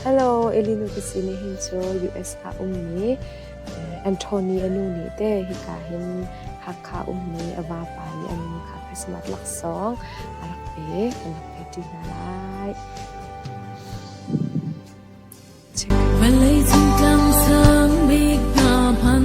Hello, Elinu Piscine hin cu US ah ummi Anthony anu nih te hika hin Hakha ummi a vapa nih an Christmas laksawng a rak pek an rak pek ṭi hna lai. Vawlei thingtlang sang bik hna hman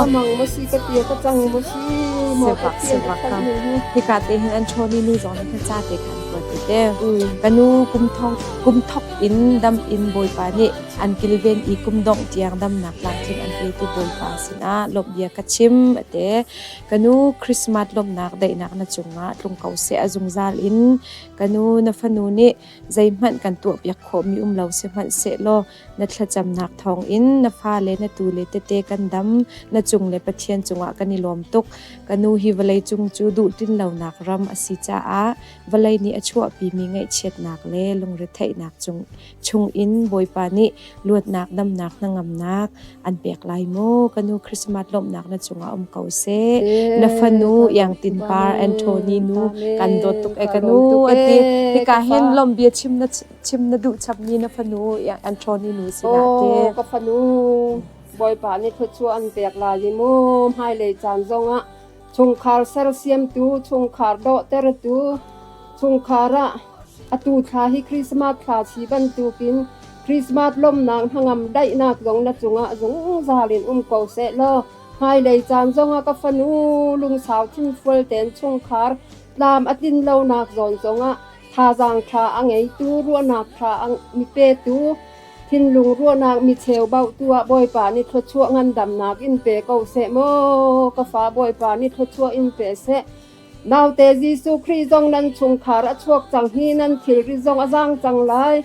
A mang maw si ka tia ka cang maw si maw ka tia ka cang maw hi hika te hin an ṭhawn i nu zong nih khan ca te khan an kuat ti te ka nu kum thong kum thok in dam in bawipa nih an kilven i kum dongh tiang damnak tlangcung an pe ti bawipa sinah lawmh bia ka chim ate ka nu Christmas lawmhnak daihnak na cungah tlung ko se a zungzal in ka nu na fanu nih zeihmanh kan tuah piak khawhmi um lo sihmanh sehlaw Na thlacamnak thawngin na fale, na tule tete kan dam. Na cung le Pathian cungah kan i lawm tuk. Ka nu hi vawleicung cu duhtinlonak ram a si caah vawlei nih a chuahpimi ngaihchiatnak le lungretheihnak cung chungin Bawipa nih luatnak, damnak, hnangamnak an pek lai maw? Ka nu Christmas lawmhnak na cungah um ko seh. Na fanu Iangtin Par, Anthony nu kan dawt tuk e ka nu a ti. Hika hin lawmh bia chim na Chim na duh chapmi na fanu an ṭhawn i mi sinah ke. Aw ka fanu, Bawipa nih thluachuah an pek lai i mu hmailei caan zongah chungkhar sersiamtu, chungkhar dawhtertu, chungkhar ah atu thla hi Christmas thla si bantukin Christmas lawmnak hnangam daihnak zong na cungah zungzal in um ko seh law hmailei caan zongah ka fanu lungsau thinfual ten chungkhar tlam a tlin lonak zawn zongah Thazaang ṭha a ngeitu, ruahnak ṭha mi petu, thinlung ruahnak mi cheubaotu ah Bawipa nih thluachuah ngandamnak in pe ko seh maw ka fa Bawipa nih thluachuah in pe seh. Naute Jesuh Khrih zong nan chungkhar a chuak cang hi nan thilri zong a zaang cang lai.